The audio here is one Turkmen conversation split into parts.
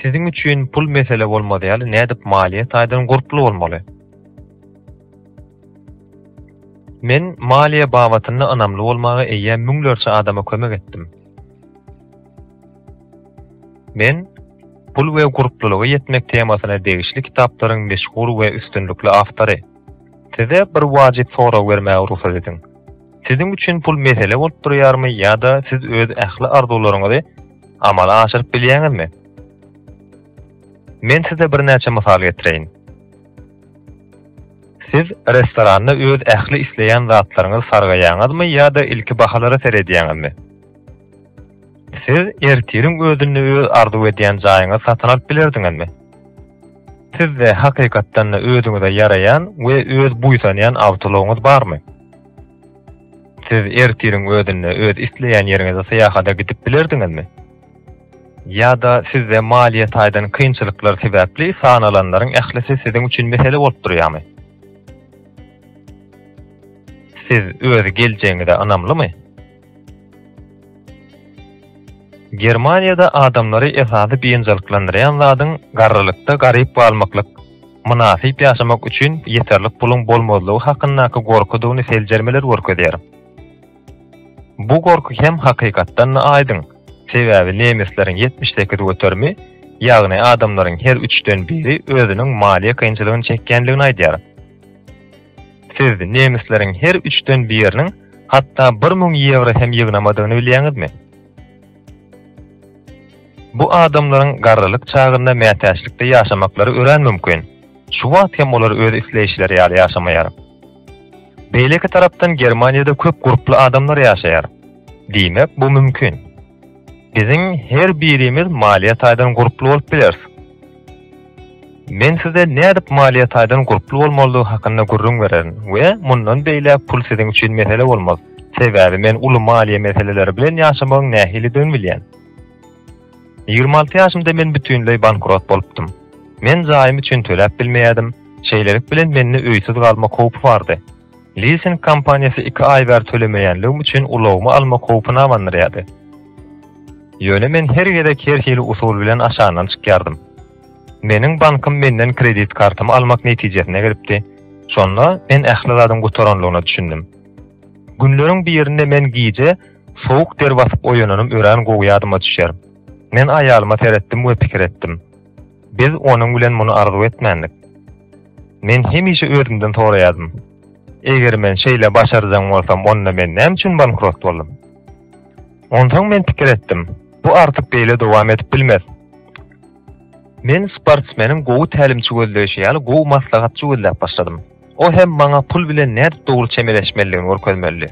Siziň üçin pul mesele bolmazy ýaly nädip maliýe taýdan gurply bolmaly? Men maliýe babatynda ynamly bolmaga eýýäm müňlerçe adama kömek etdim. Men Pul we gurplulyga ýetmek temasyna degişli kitaplaryň meşhur we üstünlikli awtory. Size bir wajyp sorag bermäge rugsat ediň. Siziň üçin pul mesele bolup durýarmy ýa-da siz öz ähli arzuwlaryňyzy amala aşyryp bilýäňizmi? Men size birnäçe mysal getireýin. Siz restoranda öz ähli isleýän zatlaryňyzy sargaýaňyzmy ýa-da ilki bahalara seredýäňizmi? Siz ertiriň özünde öz arzuw edýän jaýyňyzy satyn alyp bilerdiňizmi? Sizde hakykatdan-da özüňize ýaraýan we öz buýsanýan awtoulagyňyz barmy? Siz ertiriň özünde öz isleýän ýeriňize syýahata gidip bilerdiňizmi? Ýa-da sizde maliýe taýdan kynçylyklar sebäpli sanalanlaryň ählisi siziň üçin mesele bolup durýarmy? Siz öz geljegiňize ynamlymy? Germaniýada adamlary esasy biynjalyklandyrýan zadyň garrylykda garyp galmaklyk, mynasyp ýaşamak üçin ýeterlik puluň bolmazlygy hakyndaky gorkudygyny seljermeler görkezýär. Bu gorky hem hakykatdan-da aýdyň, sebäbi nemesleriň ýetmiş sekiz göterimi, ýagny adamlaryň her üçden biri özüniň maliýe kynçylygyny çekýändigini aýdýar. Siz nemisleriň her üçden biriniň hatda bir müň ýewro hem ýygnamadygyny bilýäňizmi? Bu adamlaryň garrylyk çagynda mätäçlikde ýaşamaklary örän mümkin. Şu wagt hem olar öz isleýşleri ýaly ýaşamaýar. Beýleki tarapdan Germaniýada köp gurply adamlar ýaşaýar. Diýmek, bu mümkin. Biziň her birimiz maliýe taýdan gurply bolup bileris. Men size nädip maliýe taýdan gurply bolmalydygy hakynda gürrüň bererin we mundan beýläk pul siziň üçin mesele bolmaz, sebäbi men uly maliýe meseleleri bilen ýaşamagyň nähilidigini bilýän. Ýigrimi alty ýaşymda men bütinleý bankrot bolupdym. Men jaýym üçin töläp bilmeýärdim, şeýlelik bilen mende öýsüz galmak howpy bardy. Lising kompaniýasy iki aý bäri tölemeýänligim üçin ulagymy almak howpuna abandyrýardy. Ýöne men her gezek her hili usul bilen aşagyndan çykýardym. Meniň bankym menden kredit kartymy almak netijesine gelipdi, şonda men ähli zadyň gutaranlygyna düşündim. Günleriň birinde men gije sowuk der basyp oýananym örän gowy ýadyma düşýär. Men aýalyma seretdim we pikir etdim. Biz onuň bilen muny arzuw etmändik. Men hemişe özümden soraýardym, Eger men şeýle başarjaň bolsam, onda men näme üçin bankrot boldum? Onsoň men pikir etdim, Bu artyk beýle dowam edip bilmez. Men sportsmeniň gowy tälimçi gözleýşi ýaly gowy maslahatçy gözläp başladym. O hem maňa pul bilen nädip dogry çemeleşmelidigini görkezmelidi.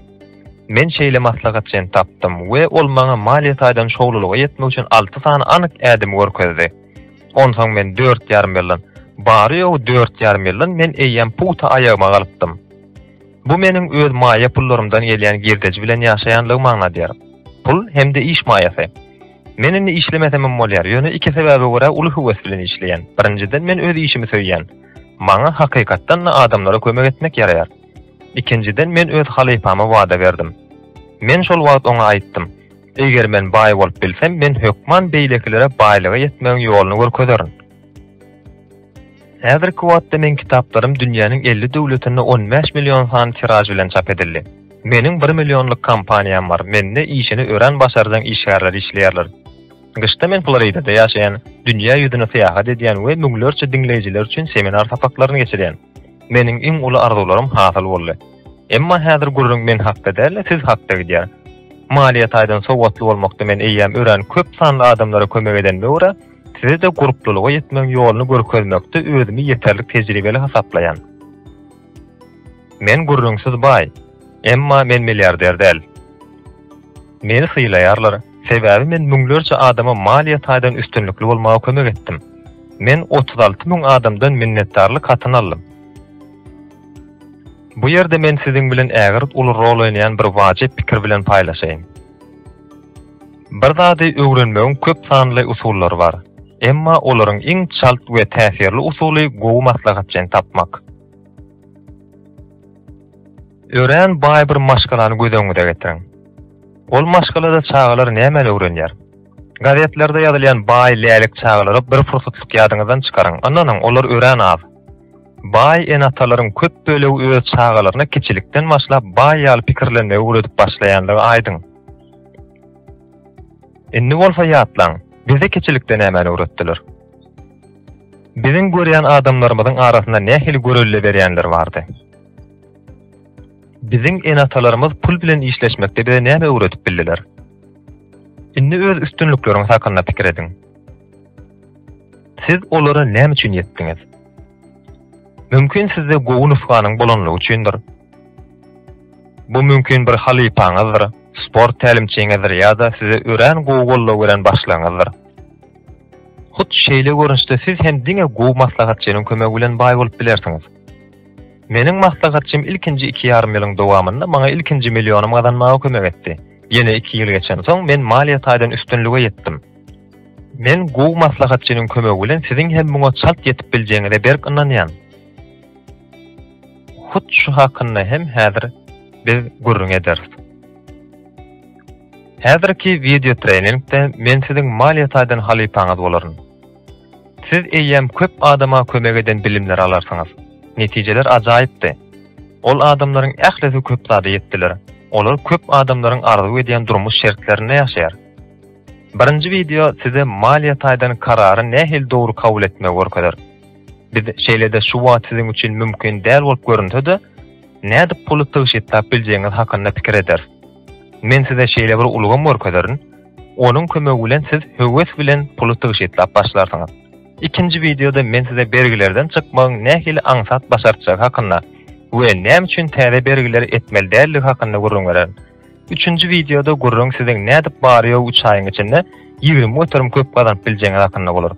Men şeýle maslahatçyny tapdym we ol maňa maliýe taýdan şowlulyga ýetmek üçin alty sany anyk ädimi görkezdi. Onsoň men dört ýarym ýyldan, bary-ýogy dört ýarym ýyldan men eýýäm pugta aýagyma galypdym. Bu meniň öz maýa pullarymdan gelýän girdeji bilen ýaşaýanlygymy aňladýar. Pul hem-de iş maýasy. Men indi işlemesemem bolýar, ýöne iki sebäbe görä uly höwes bilen işleýän. Birinjiden, men öz işimi söýýän. Maňa hakykatdan-da adamlara kömek etmek ýaraýar. Ikinjiden men öz halypama wada berdim. Men şol wagt oňa aýtdym, Eger men baý bolup bilsem, men hökman beýlekilere baýlyga ýetmegiň ýoluny görkezerin. Häzirki wagtda meň kitaplarym dünýäniň elli döwletinde on bäş million sany tiraž bilen çap edildi. Meniň bir millionlyk kompaniýam bar, mende işini örän başarjaň işgärler işleýärler. Gyşda men Floridada ýaşaýan, dünýä ýüzüne syýahat edýän we müňlerçe diňleýjiler üçin seminar sapaklaryny geçirýän. Meniň iň uly arzuwlarym hasyl boldy. Emma häzir gürrüň men hakda däl-de, siz hakda gidýär. Maliýe taýdan sowatly bolmakda men eýýäm örän köp sanly adamlara kömek edenime görä, size-de gurplulyga ýetmegiň ýoluny görkezmekde özümi ýeterlik tejribeli hasaplaýan. Men gürrüňsiz baý, emma men milliarder däl. Meni sylaýarlar, sebäbi men müňlerçe adama maliýe taýdan üstünlikli bolmaga kömek etdim. Men otuz alty müň adamdan minnetdarlyk hatyny aldym. Bu ýerde men siziň bilen ägirt uly rol oýnaýan bir wajyp pikir bilen paýlaşaýyn. Bir zady öwrenmegiň köp sanly usullary bar. Emma olaryň iň çalt we täsirli usuly gowy maslahatçyny tapmak. Örän baý bir maşgalany göz öňüňize getiriň. Ol maşgalada çagalar nämäni öwrenýär? Gazetlerde ýazylýan baý lälik çagalary bir pursatlyk ýadyňyzdan çykaryň. Ynanyň, olar örän az. Baý ene-atalaryň köp bölegi öz çagalaryna kiçilikden başlap baý ýaly pikirlenmegi öwredip başlaýandygy aýdyň. Indi bolsa ýatlaň, bize keçilikde nämäni öwretdiler? Biziň görýän adamlarymyzyň arasynda nähili görelde berýänler bardy? Biziň ene-atalarymyz pul bilen işleşmekde bize näme öwredip bildiler? Indi öz üstünlikleriňiz hakynda pikir ediň. Siz olara näme üçin ýetdiňiz? Mümkin sizde gowy nusganyň bolanlygy üçindir. Bu mümkin bir halypaňyzdyr, sport tälimçiňizdir ýa-da size örän gowy goldaw beren başlygyňyzdyr. Hut şeýle görnüşde siz hem diňe gowy maslahatçynyň kömegi bilen baý bolup bilersiňiz. Meniň maslahatçym ilkinji iki ýarym ýylyň dowamynda maňa ilkinji millionym gazanmaga kömek etdi. Ýene iki ýyl geçensoň, men maliýe taýdan üstünlige ýetdim. Men gowy maslahatçynyň kömegi bilen siziň hem muňa çalt ýetip biljegiňize berk ynanýan. Hut şu hakynda hem häzir biz gürrüň ederis. Häzirki wideo treningde men siziň maliýe taýdan halypaňyz bolaryn. Siz eýýäm köp adama kömek eden bilimleri alarsyňyz. Netijeler ajaýypdy. Ol adamlaryň ählisi köp zada ýetdiler. Olar köp adamlaryň arzuw edýän durmuş şertlerinde ýaşaýar. Birinji wideo size maliýe taýdan karary nähili dogry kabul etmegi görkezer. Biz şeýle-de şu wagt siziň üçin mümkin däl bolup görünse-de, nädip puly tygşytlap biljegiňiz hakynda pikir ederis. Men size şeýle bir ulgam görkezerin, onuň kömegi bilen siz höwes bilen puly tygşytlap başlarsyňyz. Ikinji wideoda men size bergilerden çykmagyň nähili aňsat başartjagy hakynda we näme üçin täze bergileri etmeli däldigi hakynda gürrüň bererin. Üçünji wideoda gürrüň siziň nädip bary-ýogy üç aýyň içinde ýigrimi göterim köp gazanyp biljegiňiz hakynda bolar.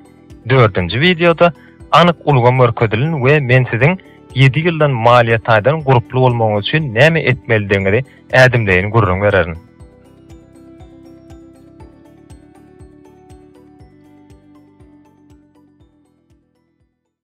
Dördünji wideoda anyk ulgam görkezilin we men siziň ýedi ýyldan maliýe taýdan gurply bolmagyňyz üçin näme etmelidigiňizi ädimleýin gürrüň bererin.